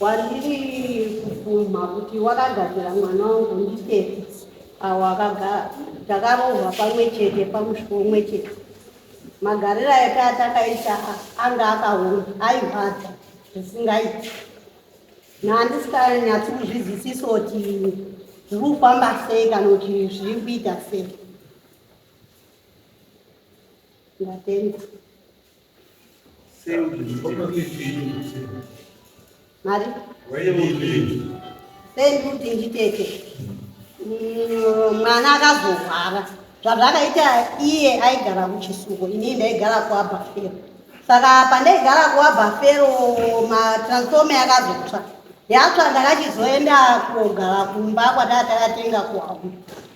Wandiri kubvuma kuti wakagadzira mwana wangu nditete awo akagara takarohwa pamwe chete pamusiko umwe chete magariro ake atakaita anga akaoma airwadza zvisingaiti naandisikanyatsi kuzvizisisa kuti zviri kufamba sei kana kuti zviri kuita sei ndatenda Mari? Sendikuti nditete mwana akazorwara zvazvakaita iye aigara kuchisuko inii ndaigara kuabhafero saka pandaigara kuabhafero matransforme akazotsva yatsva ndakachizoenda kogara kumba kwataa takatenga kuhau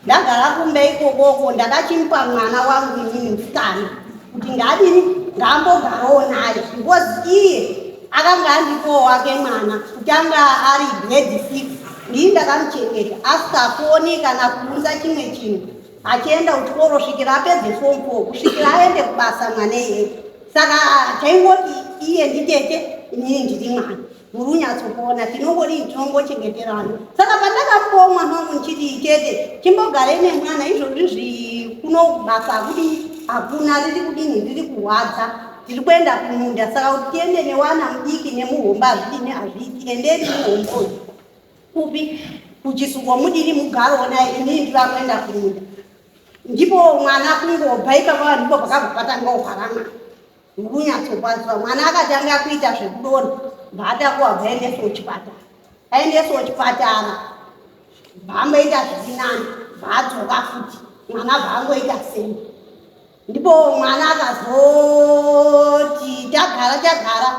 ndagara kumbe ikokoko ndakachimupa mwana wangu inini musikana kuti ngadini ngambogarowo naye because iye akanga andipowo wake mwana kuti anga ari grade six ndii ndakamuchengeta asikakuoni kana kuunza chimwe chinhu achienda kuchikoro svikira apedze fom fo kusvikira aende kubasa mwana iye saka chaingoti iye nditete inini ndiri mwana muri unyatsopona tinongodii tinongochengeterana saka pandakapuwa mwana wangu ndichiti tete chimbogarei nemwana izvozvi zvi kuno basa hakudii hakuna riri kudini riri kurwadza tiri kuenda kumunda saka kuti tiende newana mudiki nemuhomba hazvidini hazviiti endeni muhomba uyu kupi kuchisuko mudini mugaro onai inii ndiva kuenda kumunda ndipo mwana kungobva ipapa vanhu ndipo pakabva patangawo paramana Ndikunyatsokwadziwa mwana akatanga kuita zvekudonha mbaatakuwa bvaendeswa kuchipatara aendeswa kuchipatara bvaamboita zvirinani bvaadzoka futi mwana bvaangoita sei ndipo mwana akazoti tagara tagara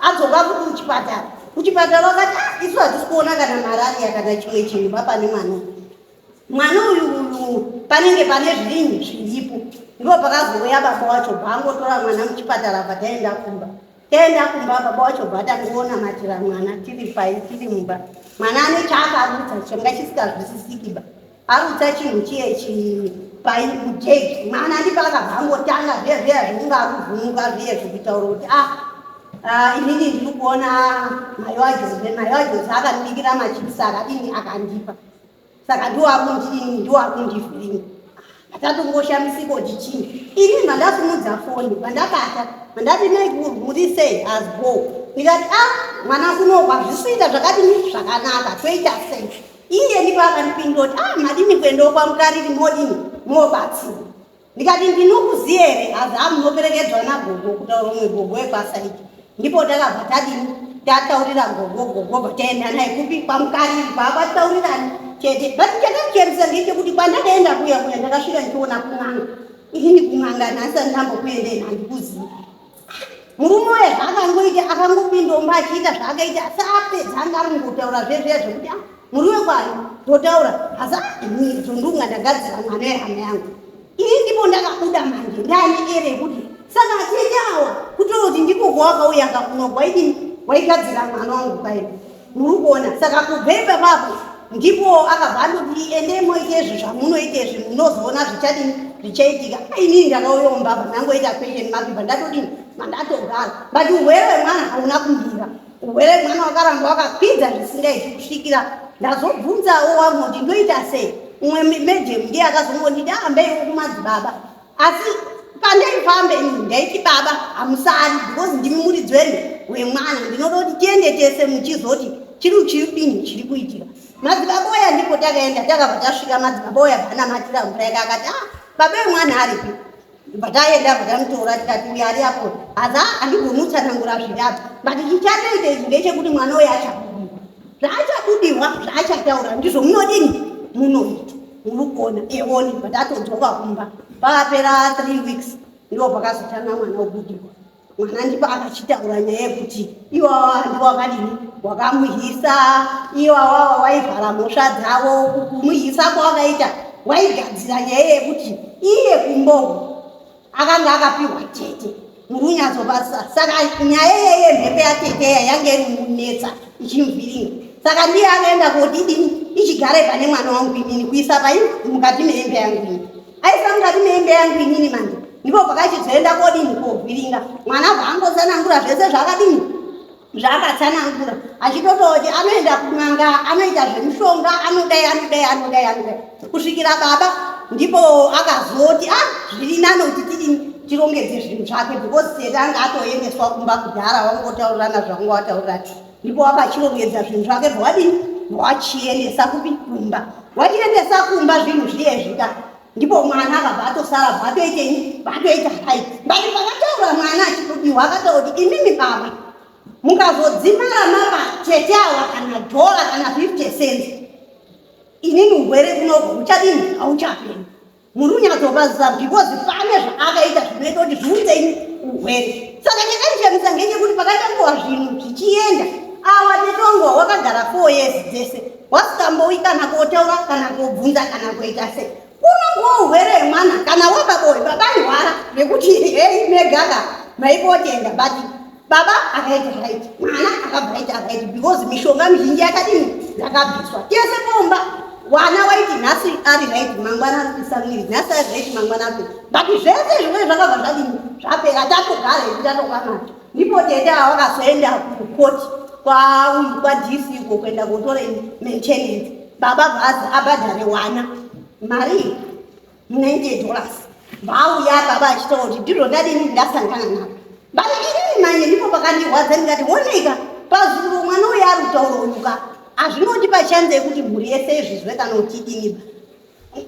adzoka futi kuchipatara kuchipatara wakati ah, isu hatisi kuona kana marariya kana chimwe chinhu bapane mwana mwana uyu uyu panenge pane zvirinyi zviripo ndo pakazouya baba wacho bvaangotora mwana muchipatara bva taenda kumba taenda kumba baba wacho bva tangoona matira mwana tiri pai tiri mumba mwana ane chaakarutsa changa chisikazwisisikiba arutsa chinhu chiye chii pai mujeki mwana ndipaka bvangotanga zviya zviya zvekunga akuvhumuka zviye zvekutaura kuti a ah, ah, inini ndiri kuona mayo ajose mayo ajose akandibikira machipisi akadini akandipa saka ndoakundii ndoakundivhiringa atatongoshamisipo kuti chii ini mandasimudza foni pandakata mandati maikuru muri sei asbo ndikati a ah, mwana kunohwa zvisiita zvakadini zvakanaka toita sei iye ndipo akandipindoti a ah, madini kuendawo kwamukariri modini mobatsira ndikati ndinokuziva here hazi amunoperekedzwa nagogo kutaura umwe gogo webasa iri ndipo takabva tadini tataurira gogo gogo vataenda naye kupi kwamukariri kwakwataurirani chete but chakakerisa ngechekuti kwandakaenda kuya kuya ndakasvika ndichiona kun'anga inini kun'anga nhasi andinambokuendei handikuzivi murume uye zvaangangoita akangopindomba achiita zvaakaita asi apedza anga ari kungotaura zvezviya zvekuti ah, muriwe kwari ndotaura asi aizvo ndunga ndagadzira mwana wehama yangu ini ndipo ndakabuda manje ndane ere kuti saka atete awa kutoti ndiko kwawakauya kakuno waigadzira mwana wangu kwaii muri kuona saka kubva ipapapo ndipo akabva andoti endei moita izvi zvamunoita izvi munozoona zvichadini zvichaitika inini ndakauya mumbabva ndangoita question mabibva ndatodini mandatogara but urwere wemwana hauna kumira urwere wemwana wakaramba wakakwidza zvisingaiti kusvikira ndazobvunzawo wamoti ndoita sei umwe madam ndiye akazongonditi ahambeiwo kumadzibaba asi pandaifambe ini ndaiti baba hamusari because ndimi muridzi wene wemwana ndinoda kuti tiende tese muchizoti chiri chiripini chiri kuitika madzibaba oya ndipo takaenda takabva tasvika madzibaba oya vanamatira mvura yake akati ah baba wemwana aripi bvataenda bvatamutora tikati uya ari apo haza andigoni utsanangura zvinyapi but chichatoita izvi ndechekuti mwana oya achabudiwa zvaachabudiwa zvaachataura ndizvo munodini munoita unogona eoni but atodzoka kumba pakapera three weeks ndiwo pakazotanga mwana wokudikwa mwana ndipo akachitaura nyaya yekuti iwawa handiwo wakadini wakamuhisa iwawawa waivhara mhosva dzavo kumuhisa kwawakaita waigadzira nyaya yekuti iye kumbogo akanga akapihwa tete murunyazobasa saka nyaya yeye mhepo yateteya yange iri munetsa ichimuvhiringa saka ndiye akaenda kodidini ichigara pane mwana wangu inini kuisa pai mukati meembe yangu ini aisa mukati meembe yangu inini manje ndipo pakachizoenda kodini kovhiringa mwana vaangotsanangura zvese zvakadini zvaakatsanangura achitototi anoenda kun'anga anoita zvemushonga anodai anodai anodai anodai kusvikira baba ndipo akazoti a ah, zviri nani kuti tiri tirongedze zvinhu zvake because seri anga atoendeswa kumba kudhara wangotaurirana zvanga wataurira ti ndipo wakachirongedza zvinhu zvake bvwadini wachiendesa kupi kumba wachiendesa kumba zvinhu zviye zvika ndipo mwana akabva atosara bva atoitei bva atoita hai bati pakataura mwana achikudiwa akataura kuti imimi baba mukazodzimara mapa tete awa kana dhola kana fifty cent inini ugwere kunoko uchadini hauchapeni muri kunyatsopaziva because pane zvaakaita zvinoita kuti zviunzeini ugwere saka chakandishamisa ngechekuti pakaita nguva zvinhu zvichienda awa tetongowa wakagara four years dzese wasikambouyi kana kotaura kana kobvunza kana kuita sei unongowa urwere hwemwana kana wababoi baba ihwara nekuti hei megaka maipotenda but baba akaita right mwana akabva aita right because mishonga mizhinji yakadini yakabviswa tese pomba wana waiti nhasi ari right mangwana ari kuisa miri nhasi ari right mangwana ari but zvese zvimwe zvakabva zvadini zvapera tatogara itatokwanaa ndipo tete avakazoenda kukoti kwauyu kwadc uko kuenda kotora maintenance baba bhazi abhadhare wana mari 90 dollars vauya baba achitaura kuti ndiro ndadini ndasangana navo but inini manye ndipo pakandirwadza ndikati oneka pazuro mwana uyo ari kutaura uyuka hazvinoti pachanza yekuti mhuri yese izvizwe kana kuti idiniba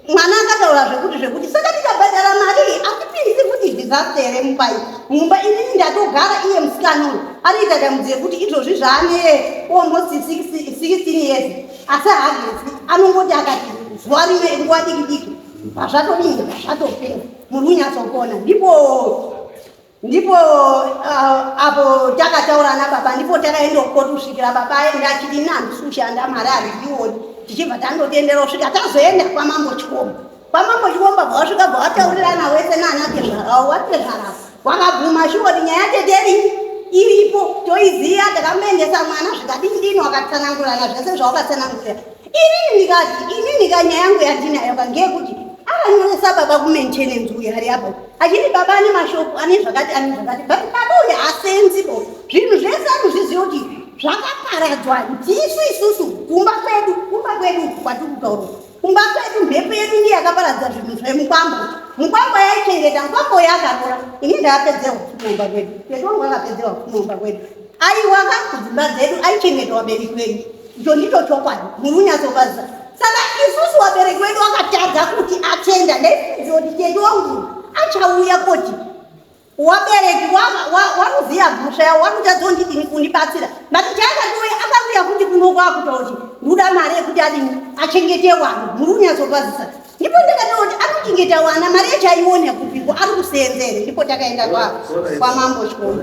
mwana akataura zvekuti zvekuti saka tikabhadhara mari iyi atipinzi futi disaster here mumba iyi mumba inini ndatogara iye musikana uyu ariita damudzi yekuti izvozvi zvaane almost 16 years asi hagezi anongoti akati zuva rimwe nguva diki diki pazvatodii pazvatopera muri unyatsopona ndipo ndipo uh, apo takataura nababa ndipo takaenda kukoti kusvikira baba aenda achiti ini handisi kushanda mari handiioni tichibva tandotiendera kusvika tazoenda kwamambo chikomba kwamambo chikomba bva wasvika bva wataurirana wese naana tezvarao watezvarao wakabvuma shiwoti nyaya teteri iripo toiziva takamboendesa mwana zvikadindini wakatsanangurana zvese zvawakatsanangurira Inini ndikati inini ka nyaya yangu yandinayo ka ngeyekuti akanyoresa baba kumaintenance uyu hari apo achiti baba ane mashopu ane zvakati ane zvakati but baba uyu hasenzi bo zvinhu zvese anozviziva kuti zvakaparadzwa ndisu isusu kumba kwedu kumba kwedu kwatiri kutaura kumba kwedu mhepo yedu ndiye yakaparadza zvinhu zvemukwambo mukwambo yaichengeta mukwambo yakarora ini ndakapedzewa kumumba kwedu yedu wangu akapedzewa kumumba kwedu Aiwa ka kudzimba dzedu aichengetwa vabereki venyu. Icho ndicho chokwadi. Muri kunyatsofadzisa. Saka isusu vabereki vedu vakatadza kuti atenda ndaifungidzira kuti tete wangu achauya koti wabereki wakuziva mhosva yavo wakutadza kundidini kundibatsira but chaakatouya akauya kuti kunokwakuta kuti nduda mari yekuti adini achengete wana muri kunyatsofadzisa ndipo ndakataura kuti anochengeta wana mari yacho aiona kupiko ari kuseenzere ndipo takaenda kwamambo chikoro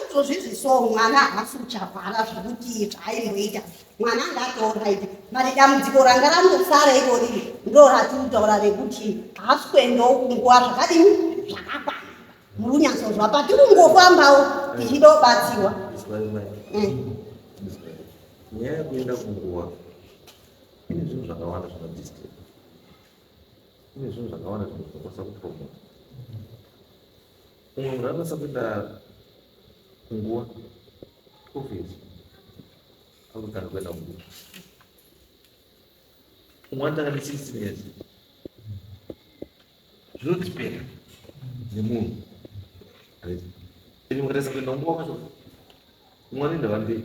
izvozvizvi so mwana haasi kuchavhara zvekuti zvaimboita mwana anga atooraiti but dambudziko ranga ranosara iroriri ndo ratirikutaura rekuti haasi kuendawo kunguva zvakadini zvakakwana muri kunyatsonzwa patiri kungofambawo tichida kubatsirwa eh. nyaya yekuenda kunguva ine zvinhu zvakawanda zvinodisturb ine zvinhu zvakawanda zvinokwanisa kupromota Umwe munhu anokwanisa kuenda kunguva office akutanga kuenda kunguva umwe anotanga ne six years zvinodipenda nemunhu ende mukatarisa kuenda kunguva kwacho umwe anoenda vamberi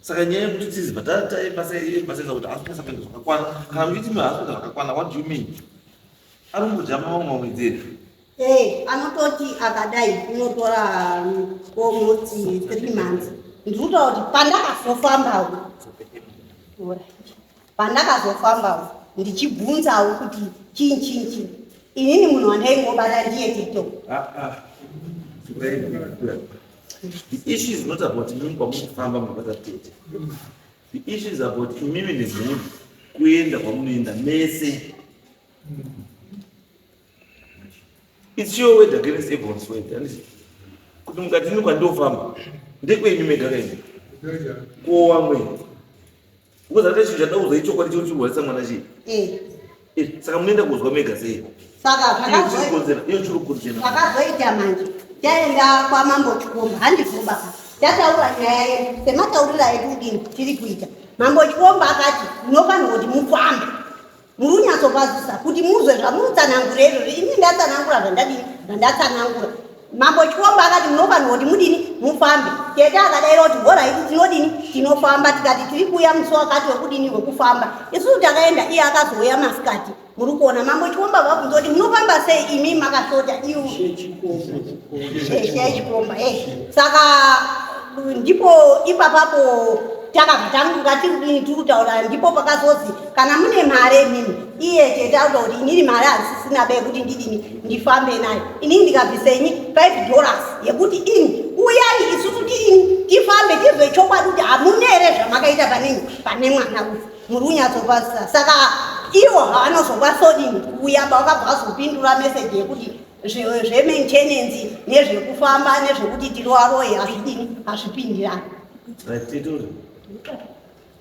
saka nyaya yekuti tizi bhatataibasaibasaisa kuti haasi kunyasa kuenda zvakakwana kana uchiti mi haasi kuenda zvakakwana what do you mean ari kudya mama mwamwedzeri e anototi akadai unotora komoti um, three months ndiri kutaura kuti pandakazofambawo Pandakazofamba uku ndichibvunzawo kuti chii chii chii, inini munhu wandaingobata ndiye TikTok. The issue is not about imimi kwamunofamba munobata tete. The issue is about imimi nemhuri kuenda kwamunoenda mese. It's your word against everyone's word. And it's- kuti mukati ini kwandofamba ndekwenyu mega kaini ko wamweni Because hata chinhu chandida kuudzai chokwadi chiri chirwarisa mwana chii? Eh. Eh, saka munoenda kuzwa mega sei? Saka zvakazoita. Iyo chiri kudzena. Zvakazoita manje. Taenda kwa mambo Chikomba, handibvumba ka. Tataura nyaya yedu, semataurira edu kudini tiri kuita. Mambo Chikomba akati, munofanirwa kuti mufambe. murunyatsopazisa kuti muzwe zvamurutsanangura izvozvo ini ndatsanangura zvandadini zvandatsanangura mambo chikomba akati munofanirwa kuti mudini mufambe tete akadaira kuti horaiti tinodini tinofamba tikati tiri kuuya musi wakati wekudini wekufamba isusu takaenda iye akazouya masikati muri kuona mambo chikomba vabvunza kuti munofamba sei imi makashota iu chikomba e saka ndipo ipapapo takabva tanguka tiri kudini tiri kutaura ndipo pakazozi kana mune mari imimi iye chete auda kuti inini mari hazisina be yekuti ndidini ndifambe nayo inini ndikabvisenyi five dollars yekuti ini uyai isusu tiini tifambe tizwe chokwadi kuti hamune here zvamakaita panenyi pane mwana uyu muri kunyatsopasisa saka ivo havanozopa sodini kuuya pavakabva vazopindura meseji yekuti zvemaintenancy nezvekufamba nezvekuti tiroaroye hazvidini hazvipindirani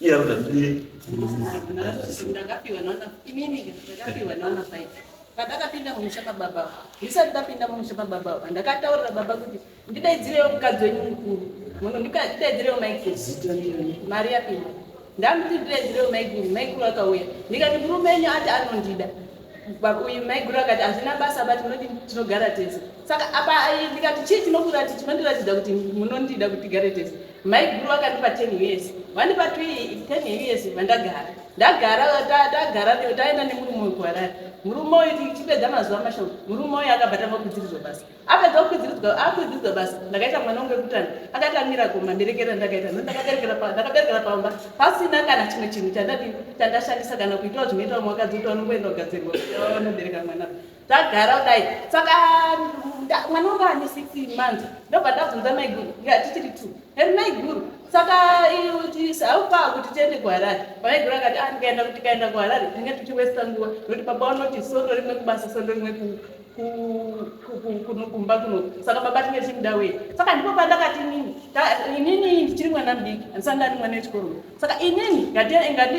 Iya udah beli. Ndakapiwa nona, ini ini ndakapiwa nona five. Padakapinda mumusha pababa, ndisati ndapinda mumusha pababa, ndakataurira baba kuti ndidaidzirewo mukadzi wenyu mukuru, muno ndidaidzirewo maikuru, mari yapinda, ndamuti ndidaidzirewo maikuru, maikuru akauya, ndikati murume wenyu ati anondida uyu maiguru akati hazvina basa but munoti tinogara tese saka apa ndikati chii chinokurati chinondiratidza kuti munondida kuti tigare tese maiguru akandipa ten years vandipa t ten years vandagara ndagara tagara taenda nemurume wekuharari murume uyu tichipedza mazuva mashoma murume uyu akabva tava kudzirizwa basa akabva akwidziridzwa akwidziridzwa basi ndakaita mwana wangu wekutanga akati amira goma mberekera ndakaita no ndakaberekera pamba pasina kana chimwe chinhu chandadii chandashandisa kana kuitawo zvinoitawo mwakadzi kuti vanongoenda kugadzirwa vanobereka mwana tagara kudai saka mwana wangu ane six months ndobva ndabvunza maiguru tichiri two heri maiguru saka haupa kuti tiende kuharare pamaiguru akati ah, ndikaenda kuti kaenda kuharare tinenge tichiwesta nguva nokuti baba vanoti sondo rimwe kubasa sondo rimwe kuuka kumba kuno saka baba tinge tichimuda wei saka ndipo pandakati inini inini ndichiri mwana mudiki handisati ndari mwana wechikoro saka inini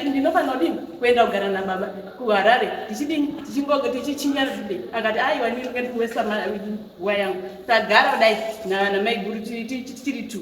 ndinofanira kudini kuenda kugara nababa kuharare tichidini tichichinya zvibe akati aiwa inini nge ndikuwesa nguva yangu tagara kudai namaiguru tichiri two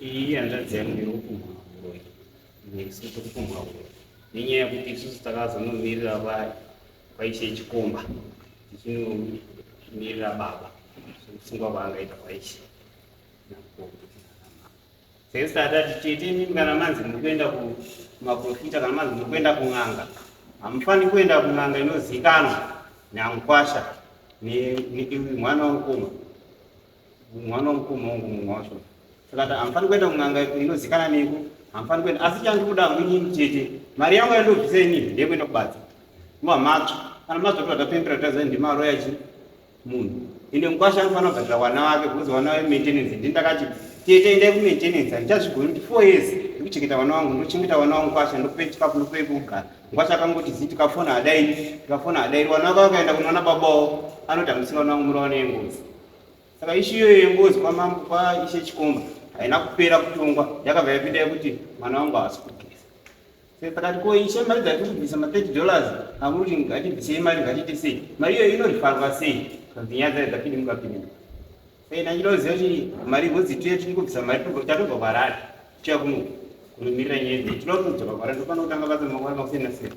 Iyi hanzvadzi yangu iri kupumbwa huroyi, nesu tiri kupumbwa huroyi nenyaya yekuti isusu takazonomirira vari kwaishe chikomba tichinomirira baba sokusungwa kwaangaita kwaishe sesi tatati tete imimi kana manzi muri kuenda kumaprofita kana manzi muri kuenda kun'anga hamufani kuenda kun'anga inozikanwa namukwasha mwana wamukoma mwana wemukoma wangu mumwe wacho saka ati hamufani kuenda kun'anga inozikana neiko hamufani kuenda asi chandikuda hangu inini chete mari yangu yandobvisa inini ndeyekuenda kubatsa nguva matsva kana matsva kuti vatapembera kutaza ndimaroya chi munhu ende mukwasha anofanira kubhadhira wana wake bcause wana we maintenance ndi ndakati tete endai kumaintenance handichazvigoni kuti four years ndikuchengeta wana wangu ndochengeta wana wangu kwasha ndokupe chikafu ndokupe kugara mukwasha akangoti zii tikafona adairi tikafona adairi wana wake wakaenda kunoona babawo anoti hamusina wana wangu muraone yengozi saka ishu iyoyo yengozi kwamambo kwaishe chikomba haina kupera kutongwa yakabva yapinda yekuti mwana wangu haasi kubvisa sakati ko ishe mari dzatiri kubvisa ma30 dollars amuri kuti ngatibvisei mari ngatiite sei mari iyoyo inorifarwa sei kanzi nyaya dzayo dzapindi mukapinda sei ndachida kuziva kuti mari ngozi tiye tiri kubvisa mari tatobva kwarari tiya kuno kunomirira nyaya dzei tinoda kutobva kwarari ndopana kutanga basa makwara makusiyana siyana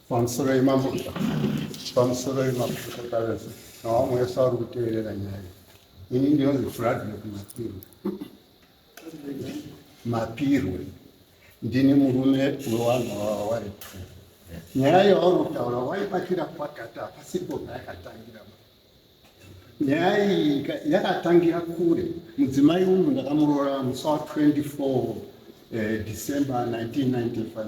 Pamusoro imambo pamusoro imambo kutokaresa nawamwe wese ari kuteerera nyaya ini ndinonzi fradlek mapirwe mapirwe ndini murume wewanhu wava wari two nyaya yauri kutaura waibatira kwatata pasipo payakatangira nyaya iyi yakatangira kure mudzimai uyu ndakamuroora musi wa 24 eh, december 1995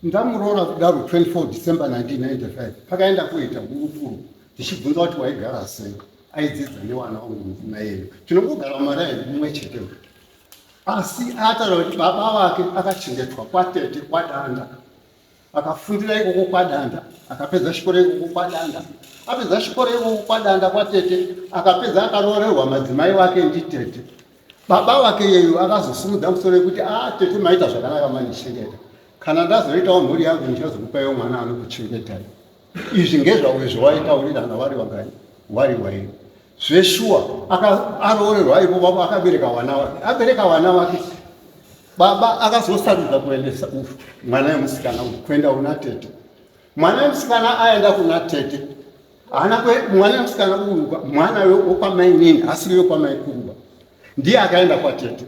Ndamuroora kudaro 24 December 1995 pakaenda kuita hurukuro tichibvunza kuti waigara sei aidzidza newana wangu mukuna yeyo tinongogara mari ayi mumwe chete asi atara kuti baba vake akachengetwa kwatete kwadanda akafundira ikoko kwadanda akapedza chikoro ikoko kwadanda apedza chikoro ikoko kwadanda kwatete akapedza akaroorerwa madzimai vake nditete Baba vake yeyu akazosimudza musoro yekuti a ah, tete maita zvakanaka mandichengeta kana ndazoitawo mhuri yangu ndichazokupaiwo mwana anokuchengetai izvi ngezvauyo zvawaitaurirana wari wagani wari waini zveshuwa aroorerwa ipo baba akabereka wana wake abereka wana wake baba akazosarudza kuendesa mwana wemusikana uyu kuenda kuna tete mwana wemusikana aenda kuna tete haana mwana musikana uyu mwana wekwamainini asiri wekwamai kuruba ndiye akaenda kwatete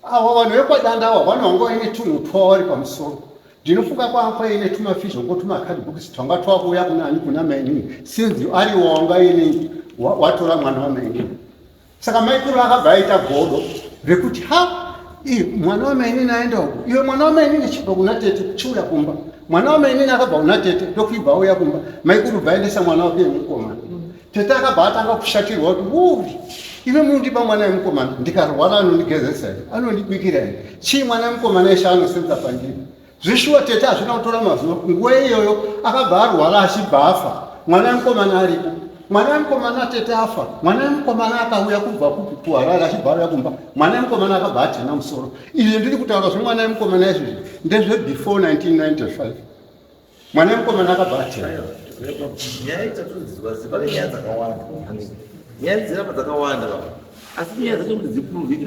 awa vanhu vekwadanda awa vano vanga vaine tunhu twavari pamusoro ndinofunga kwanga kwaine tumafizho ngo tumakadbooks twanga twakuuya kunani kuna mainini since ari wanga ine watora mwana wamainini saka maikuru akabva aita godo rekuti ha mwana wamainini aenda uku iwe mwana wamainini chibva kuna tete chiuya kumba mwana wamainini akabva kuna tete ndokuibva auya kumba maikuru bva aendesa mwana wake wemukomana tete akabva atanga kushatirwa kuti uri ive mundipa mwana wemukomana ndikarwara anondigezesa here anondibikira here chii mwana wemukomana eshe anosenza pandiri Zvishuwa tete hazvina kutora mazuva nguva iyoyo akabva arwara achibva afa mwana wemukomana aripo mwana wemukomana tete afa mwana wemukomana akauya kubva kupi kuharare achibva auya kumba mwana wemukomana akabva atina musoro izvi ndiri kutaura zvemwana wemukomana izvozvi ndezve before 1995 mwana wemukomana akabva atina nyaya ichatoziva ziva renyaya dzakawanda nyaya dzirapa dzakawanda asi nyaya dzacho kuti dzipurovhika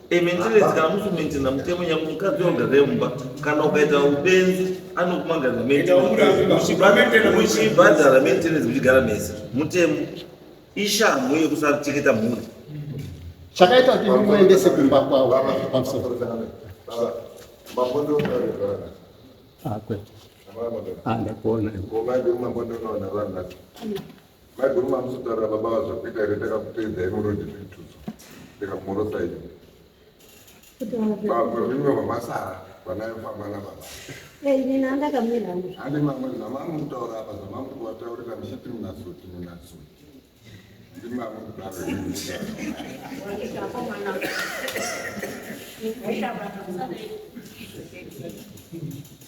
Ementerezi kana musumentena mutemo nyangu mukadzi oga remumba kana ukaita ubenzi anokumangaza muchibhadhara menterezi muchigara mese mutemo ishamhu yekusateketa mhuri chakaita kuti muendese kumba kwavo pamusoro ah, ah, ndakuona Maiguru mamusotaurira baba vazvakuita here takakuteedzai muroad zvitudzo ndikakumorosa iyo vamwe vimwe vamasara vanayofamba nababa ina ndakamira handi mamwe zamamu kutaura apa zamamu kuvataurira muchiti munasuti munasuti ndimamu kudaro Thank you.